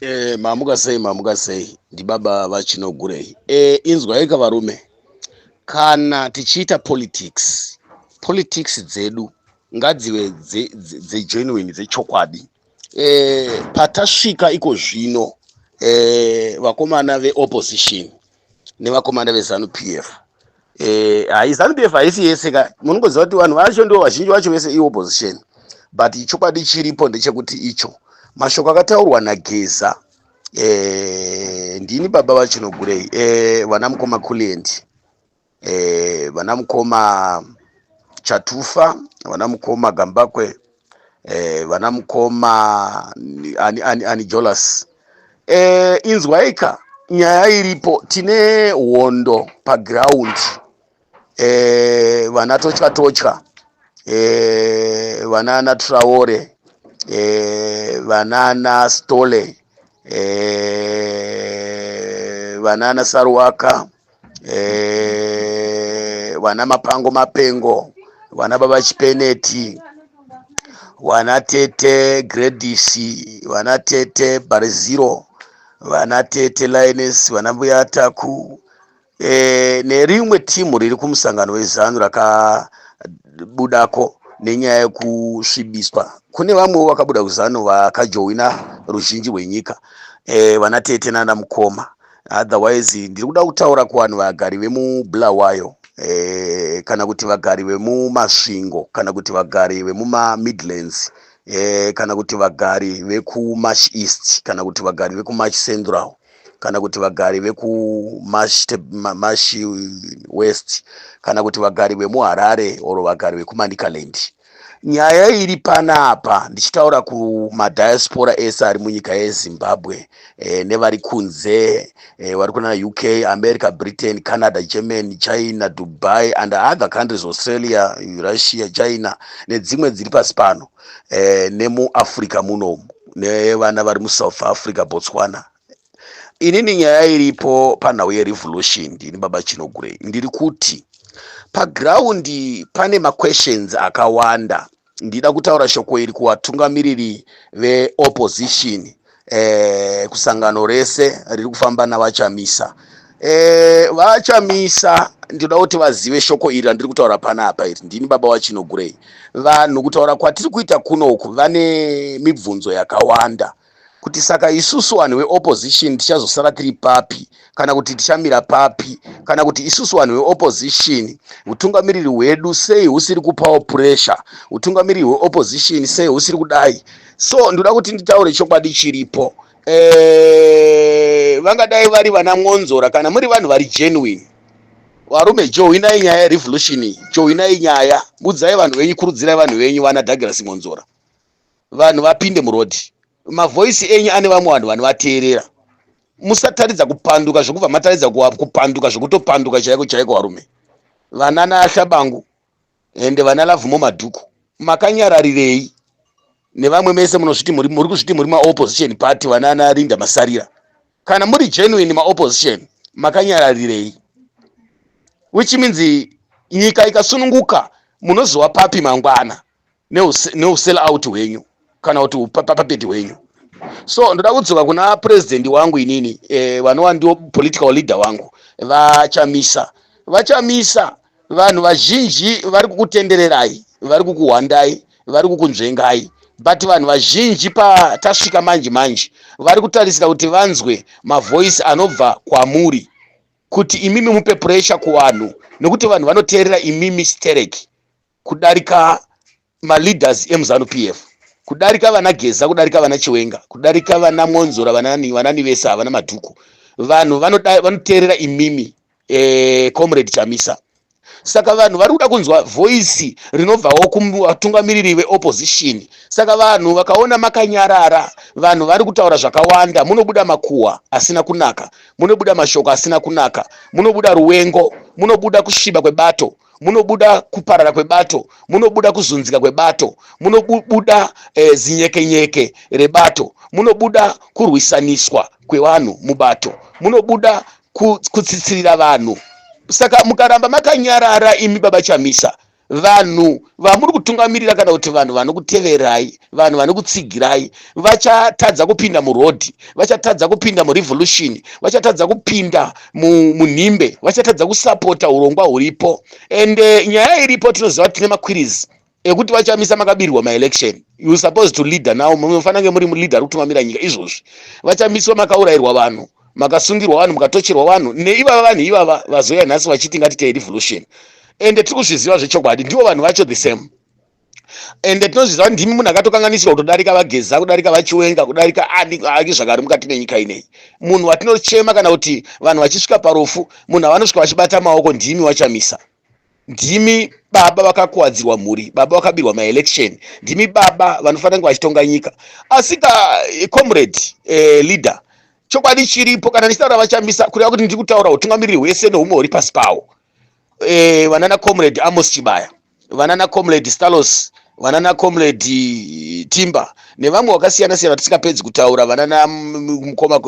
Eh, mamuka sei mamuka sei ndibaba vachinogurei eh, inzwaika varume kana tichiita politics politics dzedu ngadzive dzegenuine dzechokwadi eh, patasvika iko zvino eh, vakomana veopposition nevakomana vezanu p f Eh, hayi zanu PF haisi yese ka munongoziva kuti vanhu vacho ndo vazhinji vacho vese iopposition but chokwadi chiripo ndechekuti icho mashoko akataurwa nageza eh, ndini baba vachinogurei eh, vana mukoma kuliendi eh, vana mukoma chatufa vana mukoma gambakwe eh, vana mukoma ani, ani, ani jolas eh, inzwaika nyaya iripo tine hondo paground eh, vana totya totya eh, vanana traore eh, vanana stole eh, vanana saruwaka eh, vana mapango mapengo vana baba chipeneti vana tete gredisi vana tete bariziro vana tete lines vana mbuya taku e, nerimwe timu riri kumusangano wezanu rakabudako nenyaya yekusvibiswa kune vamwewo vakabuda kuzanu vakajowina ruzhinji rwenyika e, vana tete nana mukoma otherwise ndiri kuda kutaura kuvanhu vagari vemubulawayo eh, kana kuti vagari vemumasvingo kana kuti vagari vemumamidlands eh, kana kuti vagari vekumash east kana kuti vagari vekumash central kana kuti vagari vekumash west kana kuti vagari vemuharare or vagari vekumanicaland nyaya iri panapa ndichitaura kumadiaspora ese ari munyika yezimbabwe eh, nevari kunze eh, vari kuna uk america britain canada germany china dubai and other countries australia russia china nedzimwe dziri pasi pano eh, nemuafrica munomu nevana vari musouth africa botswana inini nyaya iripo panhau yerevolution ndini baba chinogurei ndiri kuti pagraundi pane maquestions akawanda ndida kutaura shoko iri kuvatungamiriri veopposition eh, kusangano rese riri kufamba navachamisa eh, vachamisa ndinoda kuti vazive shoko iri randiri kutaura pana apa iri ndini baba wachinogurei vanhu kutaura kwatiri kuita kunoku vane mibvunzo yakawanda kuti saka isusu vanhu veopposition tichazosara tiri papi kana kuti tichamira papi kana kuti isusu vanhu veopposition utungamiriri hwedu sei husiri kupawo pressure utungamiriri hweopposition sei husiri kudai so ndoda kuti nditaure chokwadi chiripo eh, vangadai vari vana mwonzora kana muri vanhu vari genuine varume johwinai nyaya yerevolution iyi johwinai nyaya budzai vanhu venyu kurudzirai vanhu venyu vana douglas mwonzora vanhu vapinde muroad mavoisi enyu ane vamwe vanhu vanovateerera musataridza kupanduka zvekubva mataridza kupanduka zvekutopanduka chaiko chaiko varume vana naashabangu ende vana lavumo madhuku makanyararirei nevamwe mese munozviti muri kuzviti muri maopposition party vana anarinda masarira kana muri genuine maopposition makanyararirei which means nyika ikasununguka munoziwa papi mangwana neusell out hwenyu kana kuti upapapeti hwenyu so ndoda kudzoka kuna president wangu inini eh, vanova ndio political leader wangu vachamisa vachamisa vanhu vazhinji vari kukutendererai vari kukuhwandai vari kukunzvengai but vanhu vazhinji patasvika manje manje vari kutarisira kuti vanzwe mavoice anobva kwamuri kuti imimi mupe pressure kuvanhu nekuti vanhu vanoteerera imimi stereki kudarika maleaders emuzanu p f kudarika vana geza kudarika vana chiwenga kudarika vana mwonzora vanani vanani vese havana madhuku vanhu vanoteerera imimi eh, comrade chamisa saka vanhu vari kuda kunzwa voisi rinobvawo kuvatungamiriri veopposition saka vanhu vakaona makanyarara vanhu vari kutaura zvakawanda munobuda makuhwa asina kunaka munobuda mashoko asina kunaka munobuda ruwengo munobuda kusviba kwebato munobuda kuparara kwebato munobuda kuzunzika kwebato munobuda e, zinyekenyeke rebato munobuda kurwisaniswa kwevanhu mubato munobuda kutsitsirira vanhu saka mukaramba makanyarara imi baba chamisa vanhu vamuri kutungamirira kana kuti vanhu vanokuteverai vanhu vanokutsigirai vachatadza kupinda murodhi vachatadza kupinda murevolution vachatadza kupinda munhimbe vachatadza kusapota urongwa huripo and eh, nyaya iripo tinoziva kuti tine makwirizi ekuti vachamisa makabirwa maelection you suppose to leader now munofanira kunge muri muleader ari kutungamira nyika izvozvi vachamiswa makaurayirwa vanhu makasungirwa vanhu mukatocherwa vanhu neivava vanhu ivava vazouya nhasi vachiti ngatite revolution ende tiri kuzviziva zvechokwadi ndivo vanhu vacho the same ende tinozviziva kuti ndimi munhu akatokanganisirwa kutodarika vageza kudarika vachiwenga kudarika ani ani zvakari mukati menyika ineyi munhu watinochema kana kuti vanhu vachisvika parufu munhu avanosvika vachibata maoko ndimi wachamisa ndimi baba vakakuwadzirwa mhuri baba vakabirwa maelection ndimi baba vanofanira kunge vachitonga nyika asika eh, comrade eh, leader chokwadi chiripo kana ndichitaura vachamisa kureva kuti ndiri kutaura utungamiriri hwese nehumwe huri pasi pawo eh, vanana comrade amos chibaya vanana comrade stalos vanana comrade timba nevamwe vakasiyana siyana tisingapedzi kutaura vanana mukoma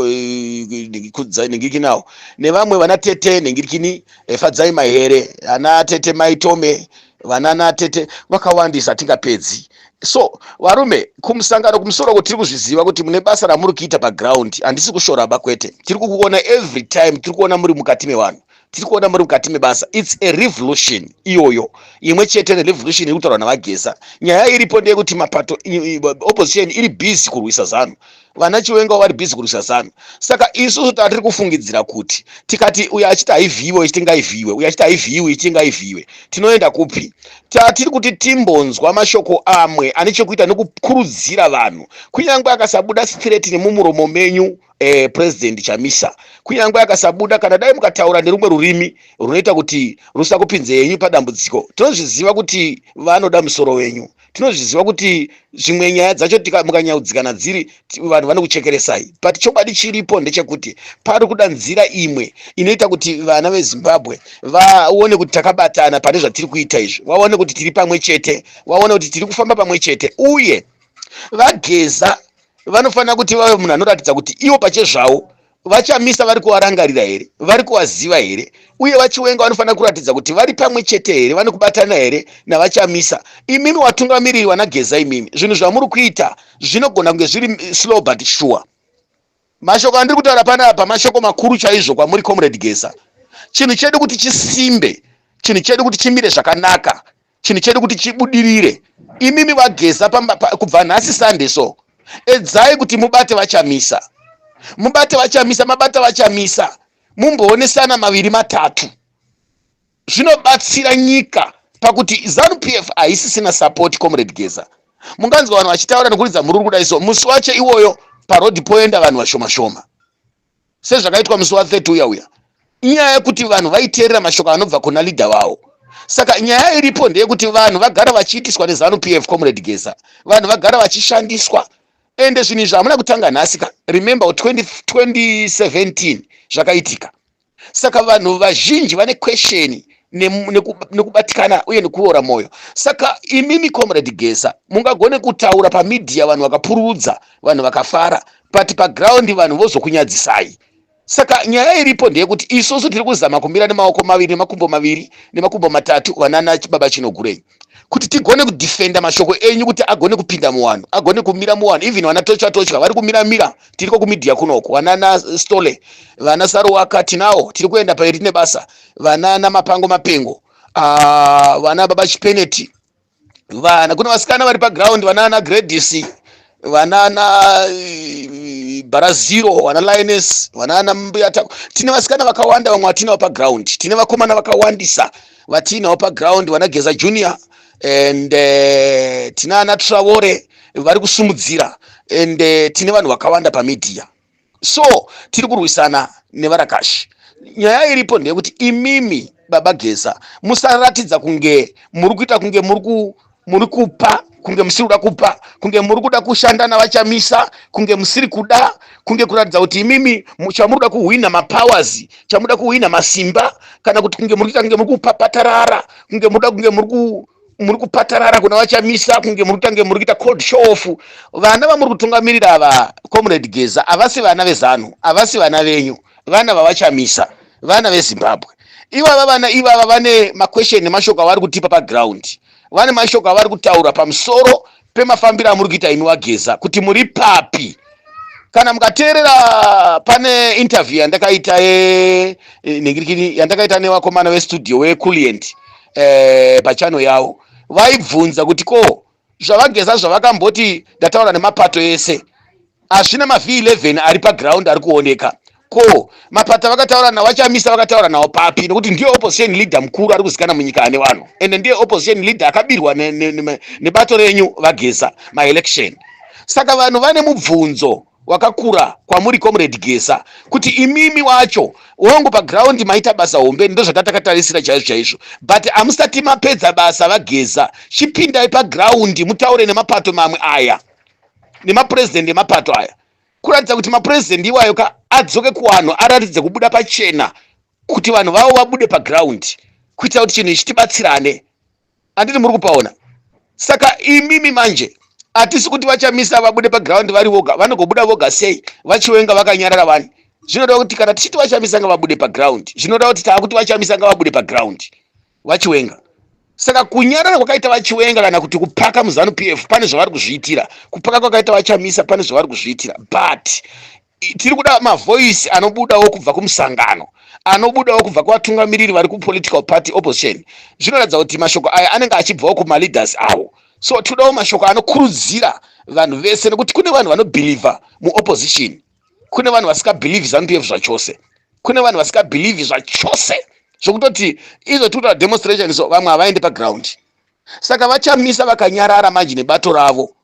kudzai nhingiki nawo nevamwe vana tete nhingirikini efadzai eh, mahere ana tete maitome vanana tete vakawandisa atingapedzi so varume kumusangano kumusoro ko tiri kuzviziva kuti mune basa ramuri kuita paground handisi kushoraba kwete tiri kukuona every time tiri kuona muri mukati mevanhu tiri kuona muri mukati mebasa its a revolution iyoyo imwe chete revolution iri kutaurwa navageza nyaya iripo ndeyekuti mapato opposition iri busy kurwisa zanu vana chiwenga vari busy kurwisa zanu saka isusu tatiri kufungidzira kuti tikati uyo achiti haivhiiwe ichiti ngaivhiiwe uyo achiti haivhiiwe ichiti ngaivhiiwe tinoenda kupi tatiri kuti timbonzwa mashoko amwe ane chekuita nekukurudzira vanhu kunyange akasabuda straight nemumuromo menyu eh, president chamisa kunyange akasabuda kana dai mukataura nerumwe rurimi runoita kuti rusakupinze yenyu padambudziko tinozviziva kuti vanoda musoro wenyu tinozviziva kuti zvimwe nyaya dzacho mukanyaudzikana dziri vanhu vanokuchekeresai but chokwadi chiripo ndechekuti pari kuda nzira imwe inoita kuti vana vezimbabwe vaone kuti takabatana pane zvatiri kuita izvi vaone kuti tiri pamwe chete vaone kuti tiri kufamba pamwe chete uye vageza vanofanira kuti vave munhu anoratidza kuti ivo pachezvavo vachamisa vari kuvarangarira here vari kuvaziva here uye vachiwenga vanofanira kuratidza kuti vari pamwe chete here vane kubatana here navachamisa imimi watungamiriri vanageza imimi zvinhu zvamuri kuita zvinogona kunge zviri eh, slow but sure mashoko andiri kutaura pana apa mashoko makuru chaizvo kwamuri comrade geza chinhu chedu kuti chisimbe chinhu chedu kuti chimire zvakanaka chinhu chedu kuti chibudirire imimi vageza kubva nhasi sunday so edzai kuti mubate vachamisa mubate vachamisa mabata vachamisa mumboonesana maviri matatu zvinobatsira nyika pakuti zanu p f haisisina sapoti comrade geza munganzwa vanhu vachitaura nekuridza mhururu kudai so musi wacho iwoyo paroad poenda vanhu vashoma shoma sezvakaitwa musi wa 30 uya uya inyaya yekuti vanhu vaiteerera mashoko anobva kuna leader vawo saka nyaya iripo ndeyekuti vanhu vagara vachiitiswa nezanu pf comrade geza vanhu vagara vachishandiswa ende zvinhu izvi hamuna kutanga nhasi ka remember 2017 zvakaitika saka vanhu vazhinji vane kwesheni nekubatikana uye nekuora mwoyo saka imimi comrade geza mungagone kutaura pamidhiya vanhu vakapururudza vanhu vakafara but paground vanhu vozokunyadzisai saka nyaya iripo ndeyekuti isusu tiri kuzama kumira nemaoko maviri nemakumbo maviri nemakumbo matatu vanana baba chinogurei kuti tigone kudefenda mashoko enyu kuti agone kupinda muwanhu agone kumira muwanhu even vana tochwa tochwa vari kumira mira tiriko kumidia kunoko vanana stole vana saruwaka tinawo tiri kuenda pairi tine basa vanana mapango mapengo uh, vana baba chipeneti vana kune vasikana vari paground vanaana gradis vanaana eh, baraziro vana lioness vanaana mbuyatako tine vasikana vakawanda vamwe vatiinawo paground tine vakomana vakawandisa vatiinawo paground vana geza junior and uh, tine ana travore vari kusumudzira and uh, tine vanhu vakawanda pamedia so tiri kurwisana nevarakashi nyaya iripo ndeyekuti imimi baba geza musaratidza kunge muri kuita kunge muri kupa kunge musiri kuda kupa kunge muri kuda kushanda navachamisa kunge musiri kuda kunge kuratidza kuti imimi chamuri kuda kuhwina mapowers chamuda kuhwina masimba kana kuti kunge muri kuita kunge muri kupapatarara kunge muda kunge muri muri kupatarara kuna vachamisa kunge muri kutange muri kuita cold show off vana vamuri kutungamirira ava comrade geza havasi vana vezanu havasi vana venyu vana vavachamisa vana vezimbabwe ivava vana ivava vane maquestion nemashoko avari kutipa paground vane mashoko avari kutaura pamusoro pemafambiro amuri kuita imi wageza kuti muri papi kana mukateerera pane interview yandakaita e, e, nengirikini yandakaita newakomana westudio weculient eh, pachano yawo vaibvunza kuti ko zvavageza zvavakamboti ndataura nemapato ese Hazvina mavhii 11 ari paground ari kuoneka. Ko mapata vakataura nawo achamisa vakataura nawo papi nekuti ndiye opposition leader mukuru ari kuzikana munyika ane vanhu ende ndiye opposition leader akabirwa nebato renyu vageza maelection saka vanhu vane mubvunzo wakakura kwamuri comrade gesa kuti imimi wacho wangu paground maita basa hombe ndozvatatakatarasira chaizvo chaizvo but amusati mapedza basa vageza chipindai paground mutaure nemapato mamwe aya nemapurezidendi emapato aya kuratidza kuti mapurezidendi iwayo ka adzoke kuvanhu aratidze kubuda pachena kuti vanhu vavo vabude pagraundi kuitira kuti chinhu ichi tibatsirane anditi muri kupaona saka imimi manje hatisi kuti vachamisa vabude pagraundi vari voga vanogobuda voga sei vachiwenga vakanyarara vani zvinoda kuti kana tichiti vachamisa ngavabude pagraundi zvinoda kuti taakuti vachamisa ngavabude pagraundi vachiwenga saka kunyarara kwakaita vachiwenga kana kuti kupaka muzanu p f pane zvavari kuzviitira kupaka kwakaita vachamisa pane zvavari kuzviitira but tiri kuda mavoice anobudawo kubva kumusangano anobudawo kubva kuvatungamiriri vari kupolitical party opposition zvinoratidza kuti mashoko aya anenge achibvawo kumaleaders awo so tinodawo mashoko anokurudzira vanhu vese nekuti kune vanhu vanobhilivha muopposition kune vanhu vasingabhilivhi zanupf zvachose kune vanhu vasingabhilivhi zvachose zvokutoti izvo tikuta demonstration so vamwe havaendi paground saka vachamisa vakanyarara manje nebato ravo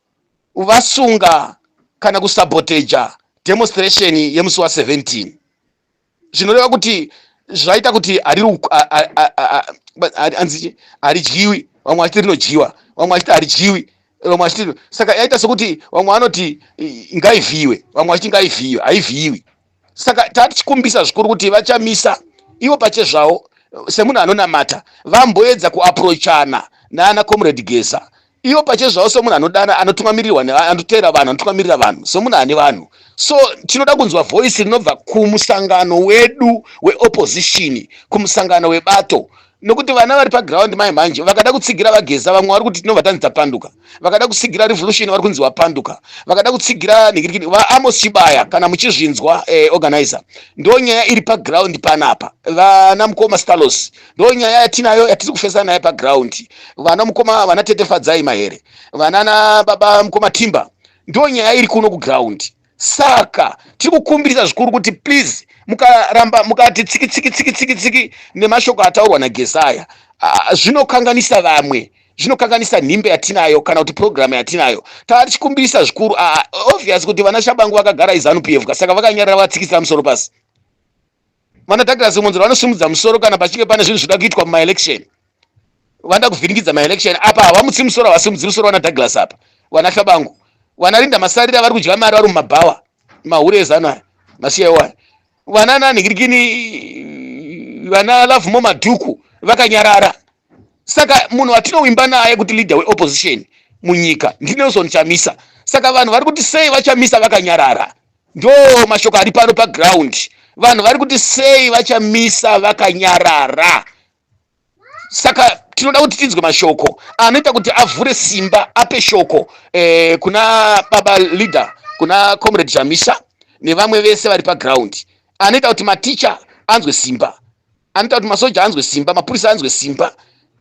vasunga kana kusaboteja demonstration yemusi wa 17 zvinoreva kuti zvaita kuti arianzi haridyiwi vamwe vachiti rinodyiwa vamwe vachiti haridyiwi vamwe vachiti saka yaita sokuti vamwe vanoti ngaivhiyiwe vamwe vachiti ngaivhiyiwe haivhiyiwi saka tatichikumbisa zvikuru kuti vachamisa ivo pachezvavo semunhu anonamata vamboedza kuaprochana naana comrade gesa ivo pache zvavo somunhu anodana anotungamirirwa anoteera vanhu anotungamirira vanhu somunhu ane vanhu so tinoda kunzwa voice rinobva kumusangano wedu weopposition kumusangano webato nokuti vana vari paground mai manje vakada kutsigira vageza vamwe vari kuti tinobva tanzi tapanduka vakada kutsigira revolution vari kunzi wapanduka vakada kutsigira nikirikini vaamos chibaya kana muchizvinzwa eh, organizer ndo nyaya iri paground panapa vana mukoma stalos ndo nyaya yatinayo yatiri kufesa nayo paground vana mukoma vana tete fadzai mahere vanana baba mukoma timba ndo nyaya iri kuno kuground saka tiri kukumbirisa zvikuru kuti please mukaramba mukati tsiki tsiki tsiki tsiki tsiki nemashoko ataurwa nagesaya ah, zvinokanganisa vamwe zvinokanganisa nhimbe yatinayo kana kuti purogiramu yatinayo tava tichikumbirisa zvikuru ah, obvious kuti vana shabangu vakagara izanu pf ka saka vakanyarira vatsikisa musoro pasi Vana Douglas Mwonzora vanosimudza musoro kana pachinge pane zvinhu zvinoda kuitwa mumaelection. Vanoda kuvhiringidza maelection apa havamutsi musoro havasimudzi musoro vana Douglas apa. Vana Hlabangu. Vana Linda Masarira vari kudya mari vari mumabhawa. Mahure ezano aya. Masiya iwo aya. Vana nanhikirikini vana Love Mo Madhuku vakanyarara. Saka munhu watinowimba naye kuti leader weopposition munyika ndiNelson Chamisa. Saka vanhu vari kuti sei vaChamisa vakanyarara. Ndo mashoko ari pano paground. Vanhu vari kuti sei vachamisa vakanyarara. Saka tinoda kuti tinzwe mashoko anoita kuti avhure simba ape shoko eh, kuna baba leader kuna comrade chamisa nevamwe vese vari paground anoita kuti maticha anzwe simba anoita kuti masoja anzwe simba mapurisa anzwe simba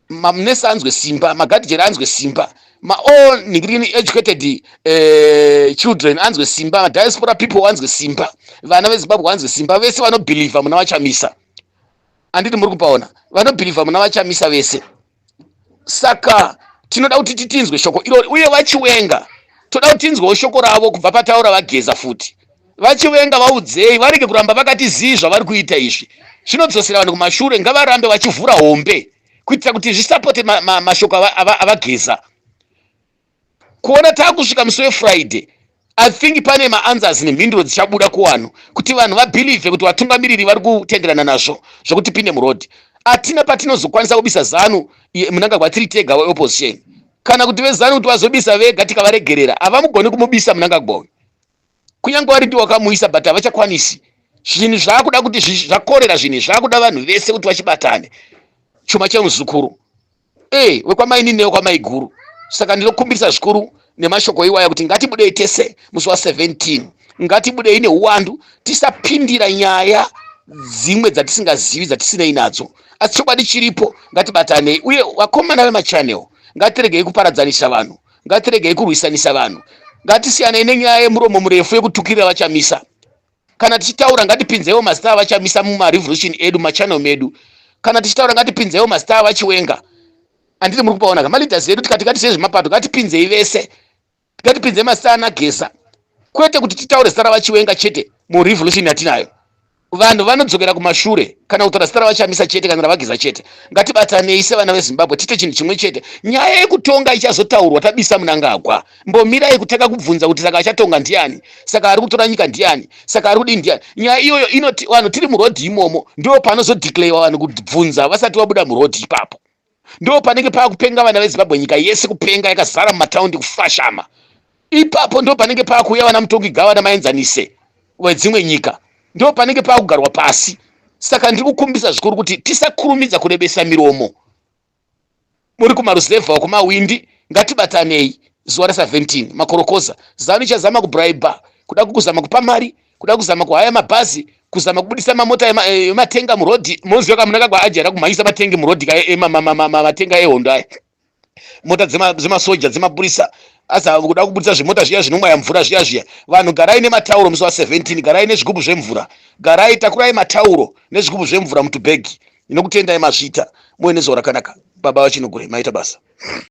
mamnesa anzwe simba magadijeri anzwe simba maall nigrini educated uh, children anzwe simba madiaspora people anzwe simba vana vezimbabwe anzwe simba vese vanobhilivha muna vachamisa anditi muri kupaona vanobhilivha muna vachamisa vese saka tinoda kuti titinzwe shoko irori uye vachiwenga toda kuti tinzwewo shoko ravo kubva pataura vageza futi vachiwenga vaudzei varege kuramba vakati zii zvavari kuita izvi zvinodzosera vanhu kumashure ngavarambe vachivhura hombe kuitira kuti zvisapote mashoko ma, ma, avageza ava, ava kuona taakusvika musi wefriday i think pane maanswers nemhinduro dzichabuda kuwanhu kuti vanhu vabhilivhe kuti vatungamiriri vari kutenderana nazvo zvokuti pinde muroad hatina patinozokwanisa kubisa zanu munangagwa tiri tega weopposition kana kuti vezanu kuti vazobisa vega tikavaregerera havamugoni kumubisa munangagwa uyu kunyange wari ndi wakamuisa but havachakwanisi zvinhu zvaakuda kuti zvakorera zvinhu zvaakuda vanhu vese kuti vachibatane chuma chemuzukuru e wekwamainini newekwamaiguru saka ndinokumbirisa zvikuru nemashoko iwaya kuti ngatibudei tese musi wa 17 ngatibudei neuwandu tisapindira nyaya dzimwe dzatisingazivi dzatisinei nadzo asi chokwadi chiripo ngatibatanei uye vakomana vemachanel ngatiregei kuparadzanisa vanhu ngatiregei kurwisanisa vanhu ngatisiyanei nenyaya yemuromo murefu yekutukirira vachamisa kana tichitaura ngatipinzewo mazita avachamisa mumarevolution edu machannel medu kana tichitaura ngatipinzewo mazita avachiwenga anditi muri kupaona ka maleaders edu tikati ngatisei zvemapato ngatipinzei vese ngatipinzei mazita anagesa kwete kuti titaure zita ravachiwenga chete murevolution yatinayo vanhu vanodzokera kumashure kana kutaura zita ravachamisa chete kana ravageza chete ngatibatanei sevana vezimbabwe tiite chinhu chimwe chete nyaya yekutonga ichazotaurwa tabisa munangagwa mbomirai kutanga kubvunza kuti saka achatonga ndiani saka ari kutora nyika ndiani saka ari kudii ndiani nyaya iyoyo inoti vanhu tiri murodhi imomo ndo panozodeclarewa vanhu kubvunza vasati vabuda murodhi ipapo ndo panenge pava kupenga vana vezimbabwe nyika yese kupenga yakazara mumataundi kufashama ipapo ndo panenge pava kuuya vana mutongi gava namaenzanise wedzimwe nyika ndo panenge pava kugarwa pasi saka ndiri kukumbisa zvikuru kuti tisakurumidza kurebesa miromo muri kumaruzevha uko mawindi ngatibatanei zuva ra 17 makorokoza zanu ichazama kubraiba kuda kukuzama kupa mari kuda kuzama kuhaya mabhazi kuzama kubudisa mamota eh, ematenga murodhi moziva kamunaka kwaajara kumhanyisa matengi murodhi ka eh, matenga ehondo aya mota dzemasoja dzemapurisa asi kuda kubudisa zvimota zviya zvinomwaya mvura zviya zviya vanhu garai nematauro musi wa 17 garai nezvigubhu zvemvura garai takurai matauro nezvigubhu zvemvura mutubhegi Ndinokutendai Mazvita, muve nezuva rakanaka baba vaChinogure, maita basa.